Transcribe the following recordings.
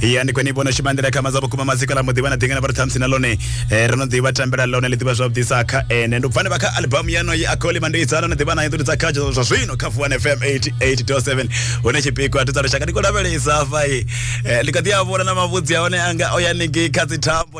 ya ndi kwene vhono shuma nḓila khama dza vhukuma maziko ḽa muḓivha na ḓingana vha ri ṱhamusi na ḽone eh, ro no ḓivha tambela ḽone ḽi ḓivha zwavhuḓisa kha ene ndi pfane vha kha albamu yano ye akoli mandiitsa ro no ḓivha nayo ḓuri dza kha zwa zwino kha fuwan fm 88.7 hune tshipikwa thusa lushaka ndi khou lavhelesa hafha eh, ndi kha ḓi a vhona na mavhudzi a hone anga o ya ningei kha dzithambo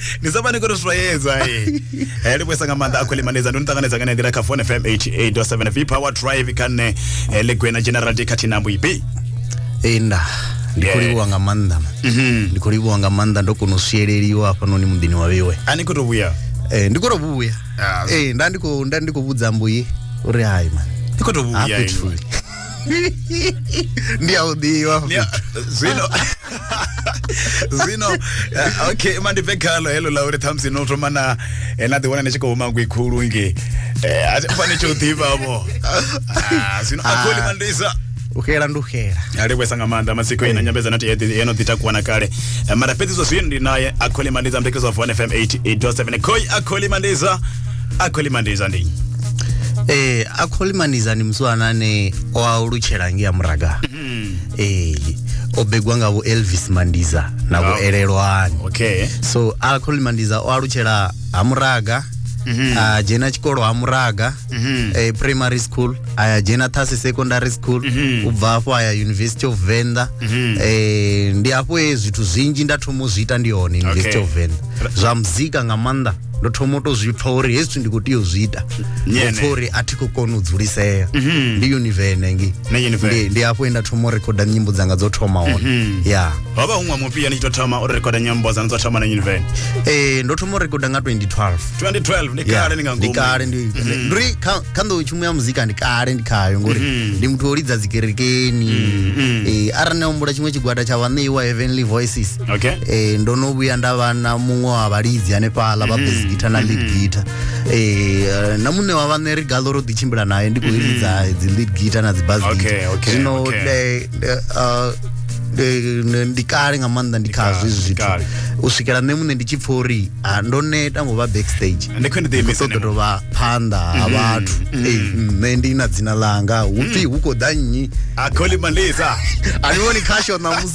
ni sa vhani kuri swayedza e eh, li vhuesa nga maanḓa a khou limanedza ndo ni ṱanganedza nga nendira kha phone fm 88.7 v power drive kha nne eh, legwena general de khathihi na mbuibi enda ndi khou livhuwa nga maanḓa mhm. ndi khou livhuwa nga maanḓa ndo kona u swieleliwa hafhanoni muḓini wa vheiwe a ni khou tou vhuya eh, ndi khou tou vhuya ah. nda ndi khou vhudza mbuyi uri hai man ndi khou tou vhuya ndi a u ḓivha Ndi a- zwino zwino eh, okay mandibve khalo helo la uri thamusi no thoma na eh, na ḓiwana ni tshi khou huma ngwi khulu nge a thi fani tsho ḓivhavho Ah, zwino akholi Ah. mandisa u xela ndi u xela a livhuesa nga maanḓa matsiko ina nyambedzano ti eḓi eno ḓi takuwa na kale Eh, mara fhedzi zwa zwino ndi naye akholi mandisa mbekedzo wa fone fm 88 7 khoi akholi mandisa akholi mandiza ndi eh akholi mandiza ndi mswana ane o alutshela ngi ya muraga mm. eh o begwa nga vho Elvis Mandiza na vho Elelwani okay so akholi mandiza o alutshela ha muraga mm -hmm. a ah, dzhena tshikolo ha muraga mm -hmm. eh, primary school a ya dzhena thasi secondary school mm -hmm. u bva hafho a ya university of venda mm -hmm. eh, ndi hafho e zwithu zwinzhi nda thoma u zwi ita ndi hone university okay. of venda zwa muzika nga maanḓa ndo thoma u to zwi pfa uri hezwi ndi khou tea u zwi ita Nyene. pfa uri a thi khou kona u dzulisea ndi univene ngi Mhm. Na Univene. Ndi- ndi hafho he nda thoma u rekhoda nyimbo dzanga dzo thoma hone Mhm. ya ho vha huṅwe mufhio ni tshi to thoma u rekhoda nyimbo dzanu dzo thoma na univen Eh, ndo thoma u rekhoda nga 2012 2012 ndi Yeah, kale ni nga ndi ngomu kale ndi Mhm. ndiri kha kha nḓowetshumo ya muzika ndi kale ndi khayo ngori Mhm. ndi muthu o lidza dzikerekeni Mhm. Eh, arali na humbula tshiṅwe tshigwada tsha vhaṋeiwa heavenly voices okay eh ndo no vhuya nda vha na muṅwe wa vhalidzi hanefhaḽa vha bass mm-hmm. guitar na lead mm-hmm. guitar eh na muṋe wa vhaṋe ri gaḽo ro ḓi tshimbila naye ndi khou mm-hmm. lidza dzi lead guitar na dzi bass guitar zwino eh, eh, ah, eh, ndi kale nga maanḓa ndi khazwo izwi zwithu u swikela nṋe muṋe ndi tshi pfha uri ah, ndo neta ngo vha backstage ṱoḓo tou vha phanḓa ha vhathu nṋe ndi na dzina ḽanga hu pfhi hu khou ḓa nnyi a kholimalisa a ni vhoni khasho ṋamusi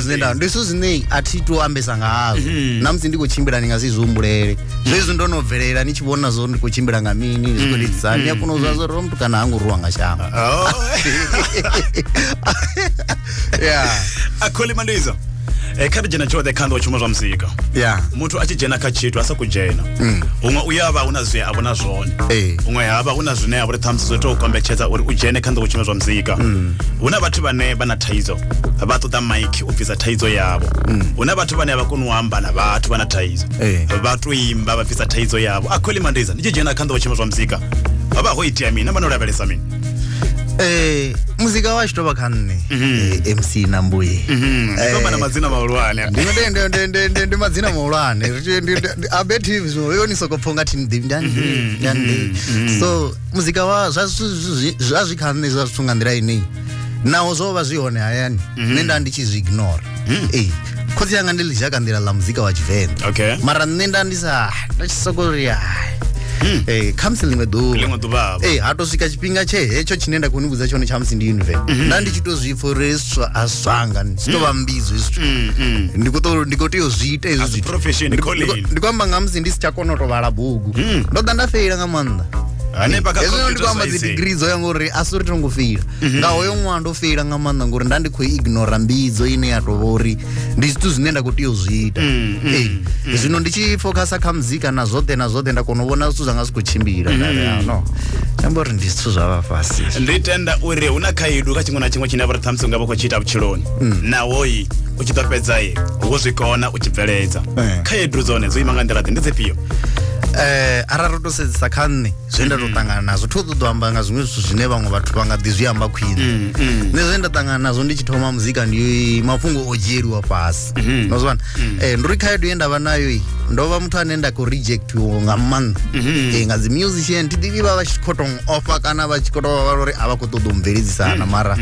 zwine nda ndi zwithu zwine a thi to ambesa nga hazwo mm-hmm. na musi ndi khou tshimbila ndi nga si zwi humbulele zwezwi ndo no bvelela ni tshi vhona zwo ndi khou tshimbila nga mini ndi khou litisa ni a kona u zwa zwo ro mutukana ha ngo ruwa nga shango oh. ya a kholi mandizo e eh, kha ri dzhena tshoṱhe kha nḓo tshuma zwa muzika ya muthu a tshi dzhena kha tshithu a sa ku dzhena mm. huṅwe u ya vha hu na zwi a vhona zwone eh. huṅwe ha vha hu na zwine a vhori ṱhamusi zwo tou kombetshedza uri u dzhene kha nḓo tshuma zwa muzika mm. hu na vhathu vhane vha na thaidzo vha ṱoḓa mike u bvisa thaidzo yavho mm. hu na vhathu vhane a vha koni u amba na vhathu vha na thaidzo eh. vha to imba vha bvisa thaidzo yavho a khweli mandeza ndi tshi dzhena kha nḓowo tshima zwa muzika vha vha ho itea mini vha no lavhelesa mini Eh, muzika wa tshitoba kha nne mhm. eh, mc na mbuye mhm. eh, ndi madzina mahulwane ndi madzina mahulwane abetives zwo yo ni soko pfunga thi ndi ndi ndi mhm. so muzika wa zwa zwi kha nne zwa zwithu nga nḓila ineyi naho zwo vha zwi hone hayani mhm. nṋe nda ndi tshi zwi ignore mm. ee khotsi yanga ndi ḽi ka nḓila ḽa muzika wa tshivenḓa mara nṋe nda ndi sa nda tshi soko ri mm. ee khamusi ḽiṅwe ḓuvha ee ha to swika tshifhinga tshe hetsho tshine nda khou ni vhudza tshone tshamusi ndi univen mhm. nda ndi tshi to zwi pfha uri a zwanga zwi to vha mm. mbidzo hezwi ndi khou ndi khou tea u zwi ita hezwi zwithu ndi khou amba nga musi ndi si tsha kona u to vhala bugu ndo ḓa nda feila nga maanḓa hanefha kha hezwino ndi computer kwamba dzi science. degree dzo ya ngori a si uri tongo feila nga hoyo ṅwaha ndo feila nga maanḓa ngori nda ndi khou ignora mbidzo ine ya tovha uri ndi zwithu zwine nda khou tea u zwi ita Ee. zwino ndi tshi focusa kha muzika na zwoṱhe na zwoṱhe nda kona u vhona zwithu zwanga zwi khou tshimbila nda ri, "Ah, no amba uri ndi zwithu zwa vha fhasi ndi tenda uri hu na khaedu kha tshiṅwe na tshiṅwe tshine vhari ṱhamusi unga vha khou tshi ita vhutshiloni nahoyi u tshi ḓo fhedza ye wo zwi kona u tshi bveledza Eh. khaedu dzone dzo ima nga nḓila ḓe ndi dzifhio Eh, arali ro to sedzisa kha nṋe zwe nda to mm. ṱangana nazwo thi ṱoḓo amba nga zwiṅwe zwithu zwine vhaṅwe vhathu vha nga ḓi zwi amba khwine mm, mm. nṋe zwe nda ṱangana nazwo ndi tshi thoma muzika ndi mafhungo o dzhieliwa fhasi mm-hmm. no zwivhana um eh, ndi uri khaedu ye nda vha nayo i ndo vha muthu ane nda khou rejectiwo nga maanḓa mm-hmm. eh, nga dzi musician thi ḓivhi vha vha tshi khou tou offa kana vha tshi khou tou vha vha uri a vha khou ṱoḓa u mveledzisana mm-hmm. mara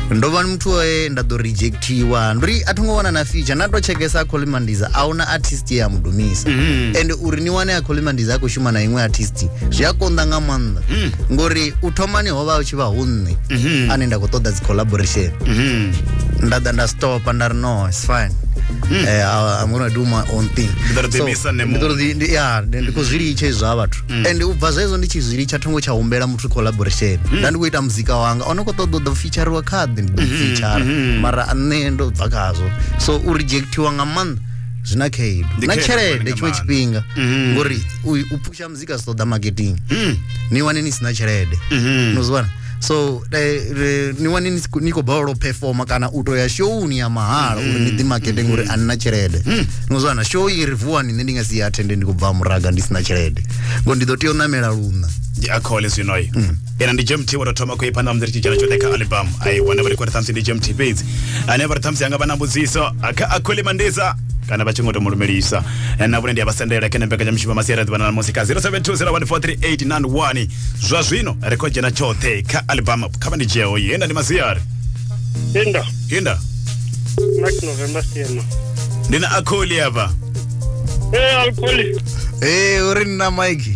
ndo vha muthu oe nda ḓo reject tiwa ndo ri a tho ngo wana na feature na to tshekesa kholimandiza a huna artist ye a mudumisa mm. and uri ni wane a kholimandiza a khou shuma na iṅwe artist zwi a konḓa nga maanḓa mm. ngori u thomani ho vha u tshi vha hu nṋe mm -hmm. ane nda khou ṱoḓa dzi collaboration mm -hmm. nda ḓa nda stopa nda ri no it's fine Mm. Uh, I'm gonna do my own thing. So, yeah, ndi khou zwi litsha izwo ha vhathu. Mm. And u bva zwezwo ndi tshi zwi litsha thongo tsha humbela muthu collaboration. Mm. Nda ndi khou ita muzika wanga. Ono khou ṱoḓa u ḓa tsha ri wa khaḓi ndi ḓo mhm, fitshara mhm. mara a nṋe ndo bva khazwo so u rejectiwa nga maanḓa zwi na khaedu na tshelede tshiṅwe tshifhinga mhm. ngori u phusha muzika zwi ṱoḓa marketing ni wane ni si na tshelede no zwi wana so eh, ni wane ni khou balelwa u performa kana u to ya showuni ya mahala uri ni ḓimakete ngori a nina tshelede hmm. no zwana show i ri vuwani nṋe ndi nga si ya athende ndi khou bva muraga ndi si na tshelede ngo ndi ḓo tea u ṋamela luṋa ndi akhole zwinoyo hmm. ena ndi jmt wo tou thoma khou i phanḓa musi ri tshi dzhena tshoṱhe kha album ai wana vha ri khori ṱhamusi ndi jmt fhedzi ane vha ri ṱhamusi anga vha na mbudziso a kha a kholi mandisa kana vha tshi ngo to mu lumelisa Eh, na vhone ndi a vha sendela kha nembeka tsha mishumo masiari ḓuvha na musi kha 0720143891 zwa zwino ri khou dzhena tshoṱhe kha album kha vha ndi dzheo ye nda ndi masiari Linda, yenda Mark November Sema. ndi na akholi hafha Eh, alcoholic. Eh, uri nna Mike.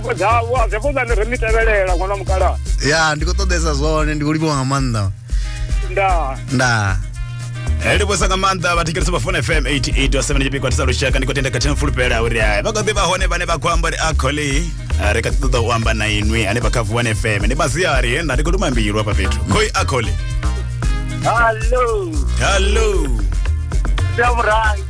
dzavho a zefo dzane ri mi tevhelela ṅwana mukalaha ya ndi khou ṱoḓesa zwone ndi khou livhiwa nga maanḓa ndaa ndaa Eh, livhusa nga maanḓa vhathetshelesi vha fone fm 88 tshipikwa tisa lushaka ndi khou tenda khathihi na fulufhela uri hai vha kha ḓi vha hone vhane vha khou amba uri a khole eh, ri kha ḓi ṱoḓa u amba na inwi hanefha kha vuwan fm ndi masiari he nda ndi khou luma mbilu hafha fhethu khoi a khole hallo hallo sia murangi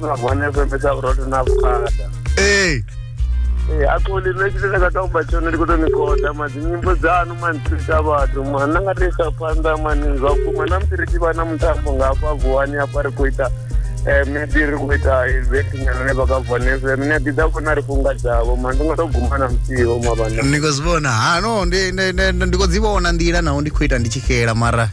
na vhone fhembe sa vhuroto na vhukhada ee Eh, a ko le nna ke le ka tsa go ba tsone di ko tsone koda ma dinyimbo dza no man tsita batho ma nna nga tsa panda man zwa ku ma nam tsiri ba na mutambo nga fa vuwani a pare ko ita eh me di ri ko ita event nya ne ba ka vone se ne di da ko na ri funga dzavo ma ndi nga to guma na mtsiho ma bana ndi khou zwi vhona ha no ndi- ndi- ndi- ndi khou dzi vhona nḓila naho ndi khou ita ndi tshi xela mara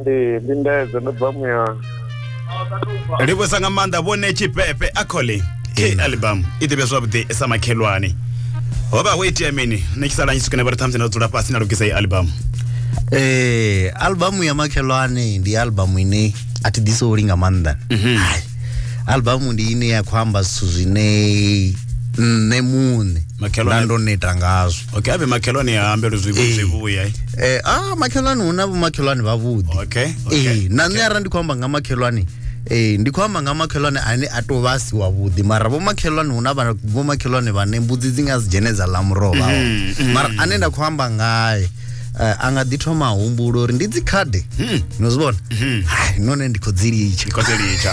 ndi lindedze ndo bva muyani livhusa nga maanḓa vhone tshifhefhe a khole key Ina. album i ḓivhe zwavhuḓi sa makhelwane ho vha ho itea mini ni tshi sala nyi swikene vhari ṱhamusi na dzula fhasi na lugisa i album Eh, albamu ya makhelwane ndi albamu ine a thi ḓisoli nga maanḓa Mhm. Hai, albamu ndi ine ya khou amba zwithu zwine nṋe muṋe Makhelwane- nda ndo neta ngazwo okay avhe makhelwane a ambele zwi Eh. zwi vhuya eh? eh, ah, makhelwane hu na vhomakhelwane vhavhuḓi okay Eh, okay na nṋe arali ndi khou amba nga makhelwane Eh, ndi khou amba nga makhelwane ane a tou vha a si wavhuḓi mara vhomakhelwane hu na vha- vhomakhelwane vhane mbudzi dzi nga si dzhene dza ḽa muroho vha hone. Mm, mara ane nda khou amba ngae eh, a nga ḓi thoma a humbula uri ndi dzikhade no zwi vhona Hai, none ndi khou dzi litsha Mm. Ndi khou dzi litsha.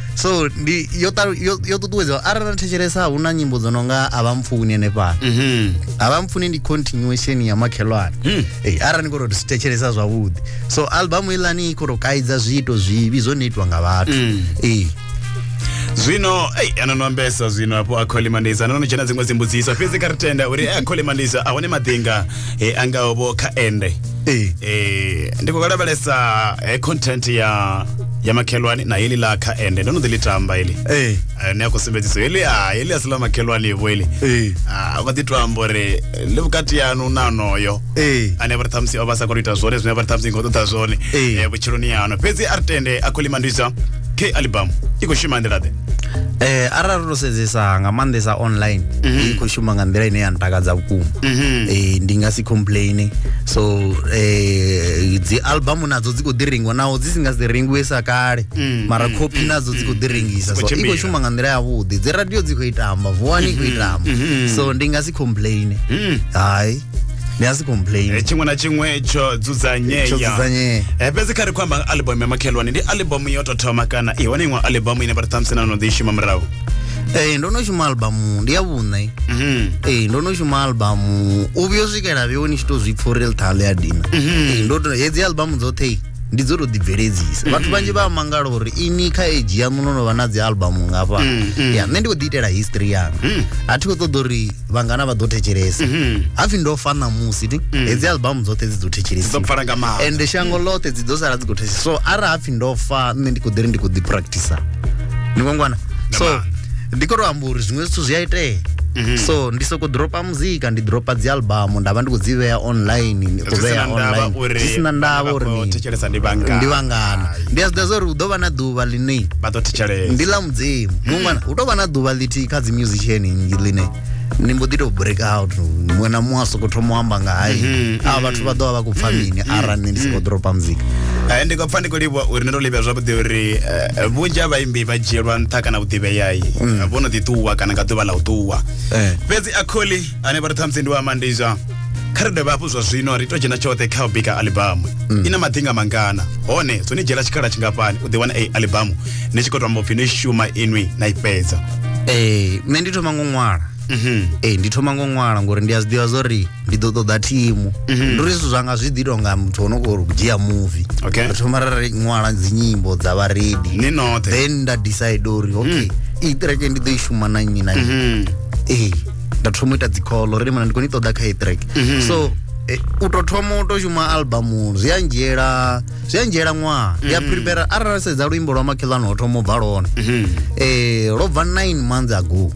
so ndi yo talu- yo yo ṱuṱuwedza arali na thetshelesa hu na nyimbo dzo no nga a vha mpfuni henefhala Mhm. a vha mpfuni ndi continuation ya makhelwane Mm. Ei, arali ni khou tou thetshelesa zwavhuḓi so albamu ilani i khou tou kaidza zwiito zwivhi zwo no itwa nga vhathu Mm. Ei. zwino ei anono ambesa zwino apo a khole mandisa anono tshena dziṅwe dzimbudziso fhedzi kha ri tenda uri a khole mandisa a hone maḓinga e, a ngaho vho kha ende Ee. e, ndi khou lavhelesa e, content ya ya makhelwani na heḽi ḽa kha ende ndo no ḓi ḽi tamba heḽi ee Eh, ni a khou sumbedziso heḽi a heḽi a si ḽa makhelwani vho heḽi ee Ah, vha ḓi to amba uri ḽi vhukati yanu na onoyo ee ane vha ri ṱhamusi o vha sa khou ita zwone zwine vha ri ṱhamusi ni khou ṱoḓa zwone Ee. eh, vhutshiloni yano fhedzi a ri tende a khou ḽi mandisa khe alibamu i khou shuma nḓila-ḓe eh arali ro sedzesa nga maanḓesa online mhm. i khou shuma nga nḓila ine ya ntakadza vhukuma mhm. eh ndi nga si complain so eh dzi album nadzo dzi khou ḓi rengwa naho dzi si nga si rengiwe sa kale mm, mara mm, copy mm, nadzo dzi khou ḓi rengisa so i khou shuma nga nḓila yavhuḓi dzi radio dzi khou itamba vuwani i khou mhm, itamba so ndi nga si complain hai ni a si complain Eh, tshiṅwe na tshiṅwe tsho dzudzanyea Tsho dzudzanyea. Eh, fhedzi kha ri khou amba album ya makhelwane ndi album yo tou thoma kana i hone iṅwe album ine vha ri ṱhamusi na no ḓi i shuma murahu ee ndo no shuma albamu ndi ya vhuṋe Mhm. ee ndo no shuma albamu u vhuyo swikela vheo ni tshi to zwi pfa uri ḽithala ya dina Ee, ndo to- hedzi albamu dzoṱhe ndi dzo to ḓibveledzisa vhathu vhanzhi vha a mangala uri ini kha age yaṋu no no vha na dzi albamu ngafha ya nṋe ndi khou ḓi itela history yanga a thi khou ṱoḓa uri vhangana vha ḓo thetshelesa mhm. hapfi ndo fa ṋamusi ti mm. hedzi albamu dzoṱhe dzi ḓo thetshelesiwa ende shango mm. ḽoṱhe dzi ḓo sala dzi khou thetshelesa so arali hapfi ndo fa nṋe ndi khou ḓiri ndi khou ḓi practice ni ngwangwana so ndi khou to amba uri zwiṅwe zwithu zwi a itea mhm. so ndi soko dropa muzika ndi dropa dzi albamu nda vha ndi khou dzi vhea online ndi khou vhea online zwi sina ndavha uri ndi vhangana ndi a zwi ḓivha zwa uri hu ḓo vha na ḓuvha ḓuvha ḽine vha ḓo thetshelesa ndi ḽa mudzimu muṅwana hu tou vha na ḓuvha ḽithihi kha dzi musician nnzhi ḽine ni mbo ḓi tou break out muṅwe na muṅwe a soko thoma u amba nga hai mhm, a vhathu vha mhm. ḓo vha vha khou pfha mhm, mini arali nṋe ndi sokou dropa muzika eh, ndi khou pfha ndi khou livha uri ni to livha zwavhuḓi uri eh, vhunzhi ha vhaimbi vha dzhielwa nṱha kana vhuḓivheyai mm. vho no ḓi ṱuwa kana nga ḓuvha ḽa u ṱuwa eh. fhedzi akholi ane vha ri ṱhamusi ndi wa mandizha kha ri dovhe hafhu zwa zwino ri to dzhena tshoṱhe kha u bika alibamu mm. i na madzinga mangana hone zwo ni dzhiela tshikhala tshingafhani u ḓi wana ei alibamu ni tshi khou tou amba upfhi no i shuma inwi na i fhedza ee eh, nṋe ndi thoma ngo ṅwala mhm. ee eh, ndi thoma ngo ṅwala ngori ndi a zwi ḓivha zwa uri ndi ḓo ṱoḓa thimu mhm. ndi uri zwithu zwanga zwi ḓi tou nga muthu o no khou dzhia muvi ri thoma ra ri ṅwala dzinyimbo dza vharedi ni noṱhe then nda decide uri okay mm. i ṱireke ndi ḓo i shuma na nnyi na nnyi mhm. ee nda thoma u ita dzikholo ri limana ndi khou ni ṱoḓa kha etrack mhm. so Eh, u to thoma u to shuma albamu zwi a ndzhiela zwi a ndzhiela ṅwaha ndi a mm. prepare arali sedza luimbo lwa makhelwane ho thoma u bva lone um mm-hmm. eh, lwo bva nine months ago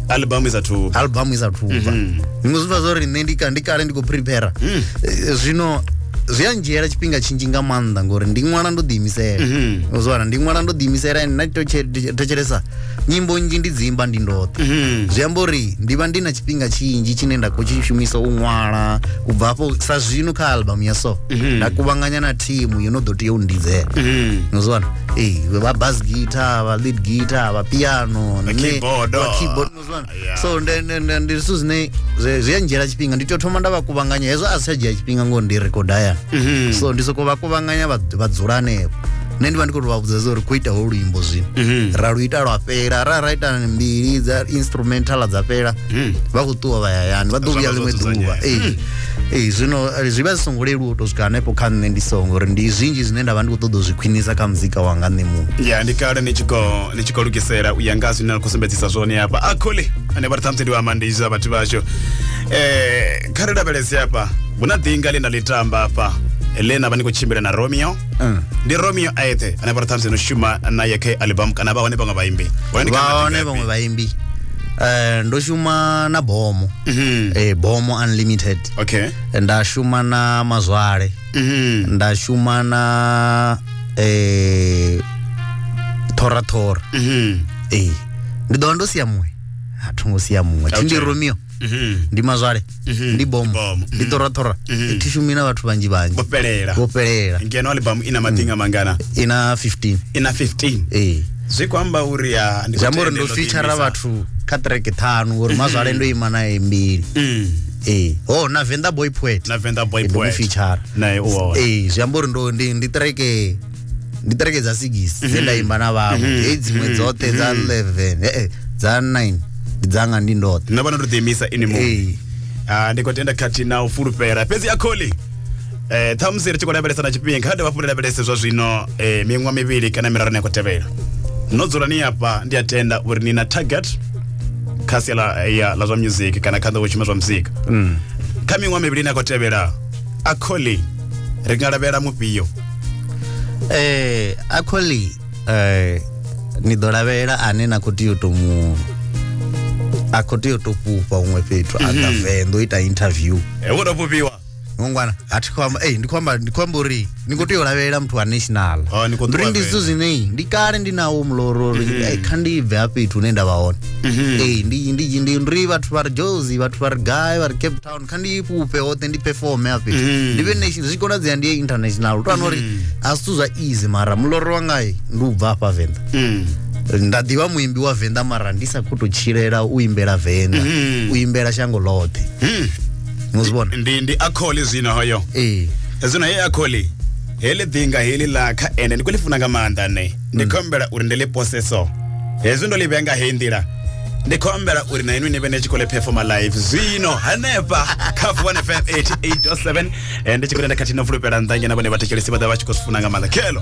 albamu isa thu albamu isa thu bva mm-hmm. zwiṅwe zwi bva zwo ri nṋe ndi ndi kale ndi khou prepare mm. eh, zwino zwi a ndzhiela tshifhinga tshinzhi nga maanḓa ngori ndi ṅwala ndo ḓiimisela mm-hmm. uzwana ndi ṅwala ndo ḓiimisela and na to thetshelesa nyimbo nnzhi ndi dzi imba ndi ndoṱhe mhm. zwi amba uri ndi vha ndi na tshifhinga tshinzhi tshine nda khou tshi shumisa u ṅwala u bva afho sa zwino kha albamu ya so mhm. nda kuvhanganya na thimu yo no ḓo tea u ndidzela mhm. nozwana ee vha bas guitar vha lead guitar vha piano nne vha keyboard nozwana so nde- nde- nde- ndi zwithu zwine zwi zwi a ndzhiela tshifhinga ndi tea u thoma nda vha kuvhanganya hezwo a si tsha dzhia tshifhinga ngori ndi rekoda hayani Mhm. so ndi sokou vha kuvhanganya vha vha dzula hanefho nṋe ndi vha ndi khou tou vha vhudza uri ku ita ho luimbo zwino Mhm. ra lu ita lwa fhela ra ra ita mbili dza instrumental dza fhela Mhm. vha khou ṱuwa vha yayani vha ḓo Zwa vhuya vha zwo ḽiṅwe ḓuvha dzudzanyea. ee ee zwino eh, zwi vha zwi songo leluwa u tou swika hanefho kha nṋe ndi songo uri ndi zwinzhi zwine nda vha ndi khou ṱoḓa u zwi khwinisa kha muzika wanga nṋe muṋe ya ndi kale ni tshi khou ni tshi khou lugisela u ya nga zwine na khou sumbedzisa zwone hafha a khole ane vha ri ṱhamusi ndi wa mandisa vhathu vhashu um kha ri lavhelese hafha hu na ḓinga ḽe na ḽi tamba hafha ḽe na vha ni khou tshimbila na romeo ndi romeo a eṱhe ane vha ri ṱhamusi no shuma naye kha album kana vha hone vhaṅwe vhaimbi Hone ni kha vha hone vhaḓivhi. vhaṅwe vhaimbi Eh, ndo shuma na bomo Mhm. Eh, bomo unlimited okay nda shuma na mazwale nda shuma na eh thora thora eh ndi ḓo vha ndo sia muṅwe a thongo sia muṅwe thi ndi Okay. romeo ndi mazwale ndi bomo Bomo. ndi thora thora thi shumi na vhathu vhanzhi vhanzhi vho fhelela vho fhelela ngeno albamu ina maḓinga mangana ina 15 ina 15 eh zwi khou amba uri ah, ndi khou zwi amba uri tenda ndo ndo feature ḓiimisa. vhathu kha track ṱhanu ngori mazwale ndo ima naye mbili Mm. ee oh na venḓa boy poet na venḓa boy poet feature nae u hone ee zwi amba uri ndo ndi ndi treke ndi treke dza sigisi dze nda mhm. imba na vhaṅwe mhm. hei dziṅwe mhm. dzoṱhe dza 11 ee dza 9 ndi dzanga ndi ndoṱhe na vhana ndo ḓiimisa ini mu ee ah, ndi khou tenda khathihi na u fulufhela fhedzi akholi eh ṱhamusi ri tshi khou lavhelesa na tshifhinga dovha fhundu lavhelese zwa zwino eh miṅwa mivhili kana miraru ni khou tevhela no dzula ni hafha ndi a tenda uri ni na target kha sia ḽa eh, ya- ḽa zwa music kana kha nḓowetshuma zwa muzika kha miṅwa mivhili ni khou tevhela a kholi ri nga lavhelela mufhio eh actually eh ni ḓo lavhelela ane na khou tea u to mu a khou tea u to fhufha huṅwe fhethu a nga venḓa u ita interview Eh, wo to fhufhiwa ngwana a thi khou amba ei ndi khou amba ndi khou amba uri ni khou tea u lavhelela muthu wa national Ah, ni khou uri ndi ṱuwa zwithu vhele. zwine ei, ndi kale ndi nawo muloro uri ei, kha ndi bve ha fhethu hune nda vha hone ei ndi ndi ndi ri vhathu vha ri jozi vhathu vha ri gai vha ri cape town kha ndi fhufhe hoṱhe ndi performe ha fhethu ndi vhe nation zwi konadzea ndi ye international to uri a zwithu zwa easy mara muloro wanga ei, ndi u bva hafha venḓa Mm. nda ḓivha muimbi wa venḓa mara ndi sa khou tou tshilela u imbela venḓa u imbela shango ḽoṱhe Mm. muzibona ndi ndi akholi zwino hoyo ee zwino he akholi heḽi ḓinga heḽi ḽa kha ene ndi khou ḽi funa nga maanḓa nṋe ndi khou humbela uri ndi ḽi pose so hezwi ndo ḽi vhea nga heyi nḓila ndi khou humbela uri na inwi ni vhe ni tshi khou ḽi performa live zwino hanefha kha vuwane fm 88.7 eh, ndi tshi khou tenda khathihi no fulufhela nnḓa nyana vhone vhathetshelesi vha ḓa vha tshi khou zwi funa nga maanḓa khelo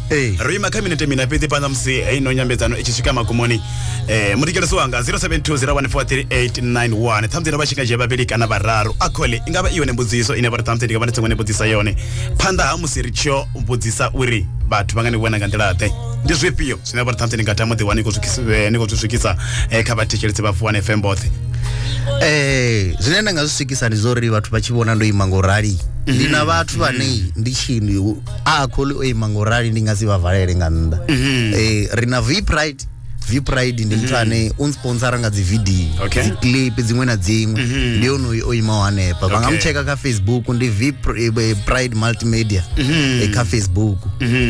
Ee. ro ima kha minete mina fhedzi phanḓa musi heino nyambedzano i tshi swika magumoni um mutikelesi wanga 0720143891 ṱhamusi no vha tshikadzhia vhavhili kana vhararu a khole i nga vha i yone mbudziso ine vhari ṱhamusi ndi nga vha ndi songo ni vhudzisa yone phanḓa ha musi ri tshiyo vhudzisa uri vhathu vha nga ni vhona nga nḓila-ḓe ndi zwifhio zwine vhari ṱhamusi ni nga tama ḓiwa ni khou zwi khis- eh, ni khou zwi swikisa eh, kha vhathetshelesi vha vuwane fm vhoṱhe Eh, zwine nda nga zwi swikisa ndi zwa uri vhathu vha tshi vhona ndo ima ngo rali ndi na vhathu vhane ndi tshi ndi a a kholi o ima nga u rali ndi nga si vha valele nga nnḓa Mhm. Eh, ri na vpride vpride ndi muthu ane u nsponsora nga dzividiyo Mhm. Okay. Mhm. dziclip dziṅwe na dziṅwe ndi onoyu o imaho hanefha vha nga Okay. mu tsheka kha facebook ndi vpride multimedia Mhm. eh, kha facebook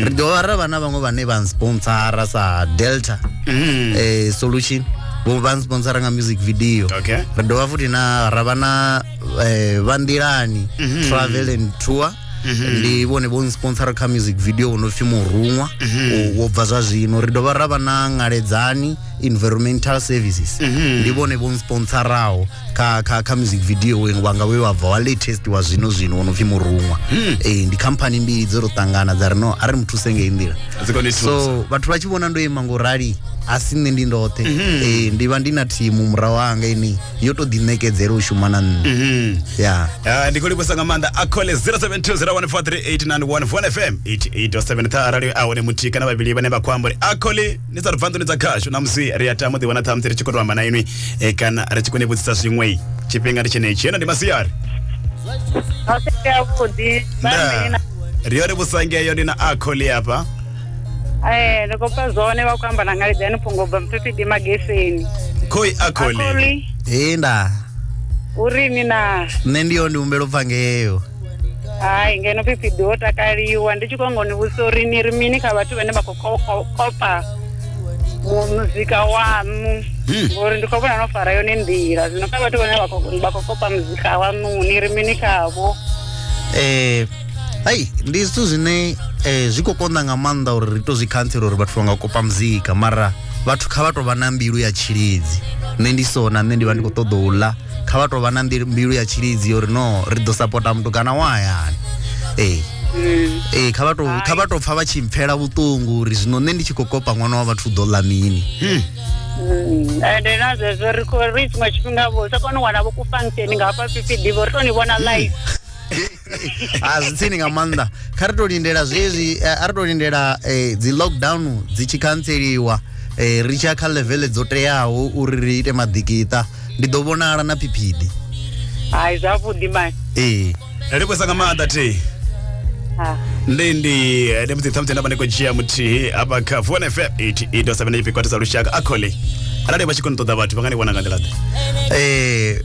ri dovha ra vha na vhaṅwe vhane vha nsponsora sa delta Mhm. eh, solution vho vha nsponsora nga music video Okay. ri dovha futhi na ra vha na eh, vha nḓilani travel and tour mhm. ndi vhone vho nsponsora kha music video wo no pfhi muruṅwa mhm. wo bva zwa zwino ri dovha ra vha na ngaledzani environmental services mhm. ndi vhone vho nsponsoraho kha kha kha music video wenu wanga we wa bva wa latest wa zwino zwino wo no pfhi muruṅwa hmm. eh ndi company mbili dzo ro tangana dza ri no a ri muthuse ngei nḓila so vhathu vha tshi vhona ndo ima ngo rali a si nṋe ndi ndoṱhe eh ndi vha ndi na thimu murahu hanga ini yo to ḓiṋekedzela u shuma na nṋe mhm. ya ah, ndi khou livhusa nga maanḓa a cole 0720143891 von fm 88.7 ṱha arali a hone muthihi kana vhavhili vhane vha khou amba uri a cole ni sa ri bva nḓuni dza khashu na musi ri a tama u ḓiwana ṱhamusi ri tshi khou to amba na inwi eh, kana ri tshi khou ni vhudzisa zwiṅwe tshifhinga ndi tshenetshi heno ndi masiari ri yo ri vhusangeyo ndi na a cole afha Eh, ndo kopa zwone vha khou amba na ngalidzani phungo bva mphepidi mageseni khoi a kholi akoli ee nda uri ni na nṋe ndi yo ndi humbela u pfa ngeyo hai ngeno phepidi ho takaliwa ndi tshi khou ngo ni vhudzisa uri ni ri mini kha vhathu vhane vha khou ko- ko- kopa mu- muzika waṋu Hmm. ngori ndi khou vhona no fara yone nḓila zwino kha vhathu vhane vha khou- vha khou kopa muzika waṋu ni ri mini khavho um hei ndi zwithu zwine eh, zwi khou konḓa nga maanḓa uri ri to zwi khantsela uri vhathu vha nga kopa muzika mara vhathu kha vha tou vha na mbilu ya tshilidzi nṋe ndi so na nṋe ndi vha ndi khou ṱoḓa u ḽa kha vha tou vha na mbilu mbilu ya tshilidzi uri no ri ḓo sapota mutukana wa hayani ee ee kha vha tou kha vha tou pfa vha tshi mpfela vhuṱungu uri zwino nṋe ndi tshi khou kopa ṅwana wa vhathu u ḓo ḽa mini Mm, ende na zwezwo ri khou- ri tshiṅwe tshifhinga vho sa kone u wana vho ku function nga hafha fhifhi ḓivha uri to ni vhona live a zwi tsini nga maanḓa kha ri to lindela zwezwi eh, a ri to lindela eh, dzi lockdown dzi tshi khantseliwa eh, ri tshiya kha levele dzo teaho uri ri ite maḓikiṱa ndi ḓo vhonala na phiphidi hai zwavhuḓi mani ee ri kwesa nga maanḓa thi Ah. ndi ndi eh, ndi musi thamusi ndavha ndi khou dzhia muthihi hafha kha fone fm 88 7 kwatisa lushaka a khole arali vha tshi kho ni ṱoḓa vhathu vha nga ni vhona nga nḓila ḓe Eh,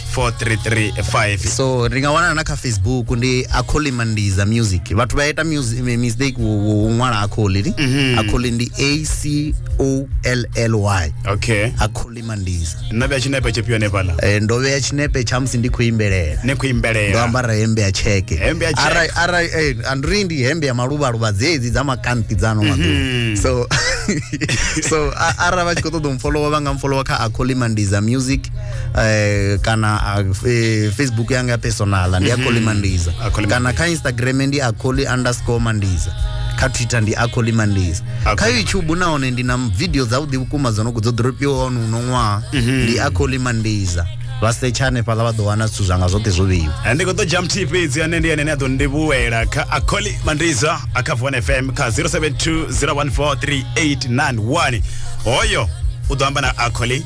433 so ri nga wanana na kha facebook ndi akholi mandiza music vhathu vha ita music mi- mistake wo- wo wo ṅwala akholi ni akholi ndi a c o l l y okay akholi mandiza nna vya tshinepe tshifhio hanefhaḽa Eh, ndo vhea tshinepe tsha musi ndi khou imbelela ni khou ndo imbelela ambara hembe ya tsheke Hembe ya tsheke. Arali- arali eh, andiri ndi hembe ya maluvhaluva dzedzi dza makanti dza ano maḓuvha so so a- arali vha tshi khou ṱoḓa u mfolowa vha nga mfolowa kha akholi mandiza music eh, kana ah, eh, facebook yanga ya personala ndi akholi mandiza Mhm. Akholi kana kha instagram ndi akholi underscore mandiza kha twitter ndi akholi mandiza kha Akholi youtube nahone ndi na video dzavhuḓi vhukuma dzo no dzo dropiwa ono uno ṅwaha Mhm. ndi akholi mandiza vha setsha hanefhaḽa vha ḓo wana zwithu zwanga zwoṱhe zwo vheiwa Eh, ndi khou ḓo jam t fhedzi ane ndi ane ane a ḓo ndivhuwela kha akholi mandiza a kha vuan fm kha 072 014 3891 hoyo u ḓo amba na akholi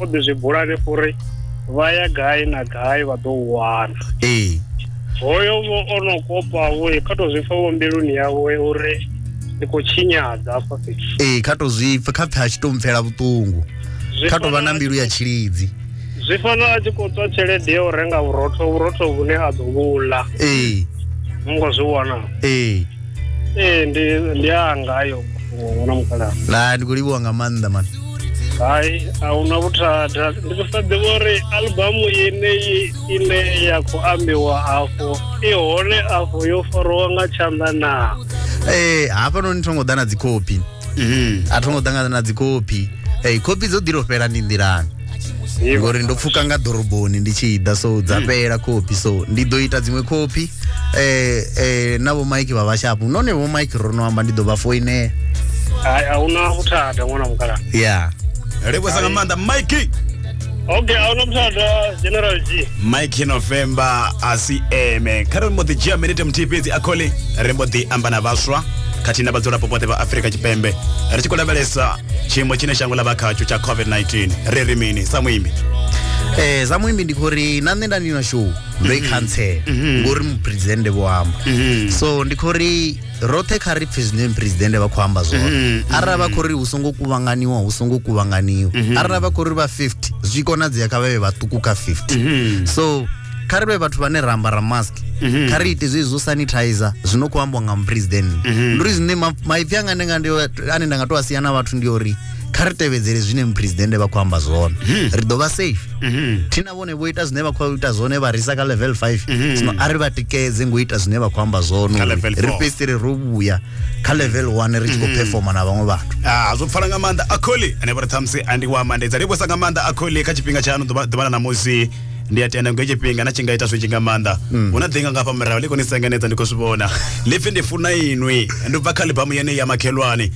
o ḓi zwi bula hanefho uri vha ya gai na gai vha ḓo u wana ee hoyo vho o no kopa vho kha to zwi pfa vho mbiluni yawe uri ndi khou tshinyadza afha fhethu ee kha to zwi pfa kha pfe a tshi to mpfela vhuṱungu Zwi kha to vha na fana- mbilu ya tshilidzi zwi fanela a tshi khou tswa tshelede ya u renga vhurotho vhurotho vhune a ḓo vhu ḽa ee ngo zwi wana ee ee ndi ndi anga ayo mafhungo na mukalaha la ndi khou livhuwa nga maanḓa man hai a hu na vhuthada ndi khou sa ḓivha uri albamu yeneyi ine ya khou ambiwa afho i hone afho yo fariwa nga tshanḓa naa ee hafhanoni tho ngo ḓa na dzikhophi Mhm. a thongo ṱangana na dzikopi hey, kopi dzo ḓilo fhela ndi nḓilani Ivo. ngori ndo pfuka nga ḓoroboni ndi tshi ḓa so dza fhela kopi so ndi ḓo ita dziṅwe kopi eh, eh, na vho mike vha vhashapu none vho mike ro no amba ndi ḓo vha foinela Hai, ahuna vhuthada ṅwana mukala ya Ri vhusa nga maanḓa Mikey. okay a huna muthu a ḓa general g mike november a si eme kha ri mbo ḓi dzhia minete muthihi fhedzi a khole ri mbo ḓi amba na vhaswa khathihi na vhadzulapo vhoṱhe vha afurika tshipembe ri tshi khou lavhelesa tshiimo tshine shango ḽa vha khatsho tsha covid-19 ri ri mini sa muimbi eh za muimbi ndi khori na nṋe nda ndi na show ndo i khantsela ngori mupresidennde vho amba so ndi khori roṱhe kha ri pfhe zwine presidente vha khou amba zwone mm, mm, arali vha mm. khou ri hu songo kuvhanganiwa hu songo kuvhanganiwa mm-hmm. arali vha khou ri vha 50 zwi konadzea kha vhavhe vhaṱuku kha 50 mm-hmm. so kha ri vhe vhathu vhane ra ambara mask mm-hmm. kha ri ite zwezwi zwo sanitizer zwi no khou ambiwa nga mupresidente ndi uri zwine maipfi anga ane nda nga to a sia na vhathu ndi uri kha ri tevhedzele zwine mupresidente vha khou amba zwone ri ḓo vha safe vhone vho ita zwine vha khou ita zwone vha risa kha level 5 mhm. zwino a ri vha tikedze ngo ita zwine vha khou amba zwono ri fhedzisele ro vhuya kha level 1 ri tshi khou mhm. performa na vhaṅwe vhathu ah, zwo pfala nga maanḓa akholi ane vha ri ṱhamusi andi wa mandedza livhusa nga maanḓa akholi kha tshifhinga tshaano ḓuvha na ṋamusi ndi a tenda ngo tshifhinga na tshi nga ita zwi tshi nga maanḓa mm. hu na ḓinga nga fha murahu ḽi koni sengenedza ndi khou zwi vhona ḽipfi ndi funa inwi ndi bva kha libamu yeneyi ya makhelwane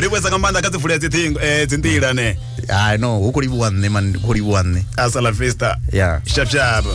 ri vhuesa nga maanḓa kha dzi vulela dzithingo eh, dzi nḓila ne i know hu khou livhuwa nṋe man khou livhuwa nṋe a sala festa ya shapshapa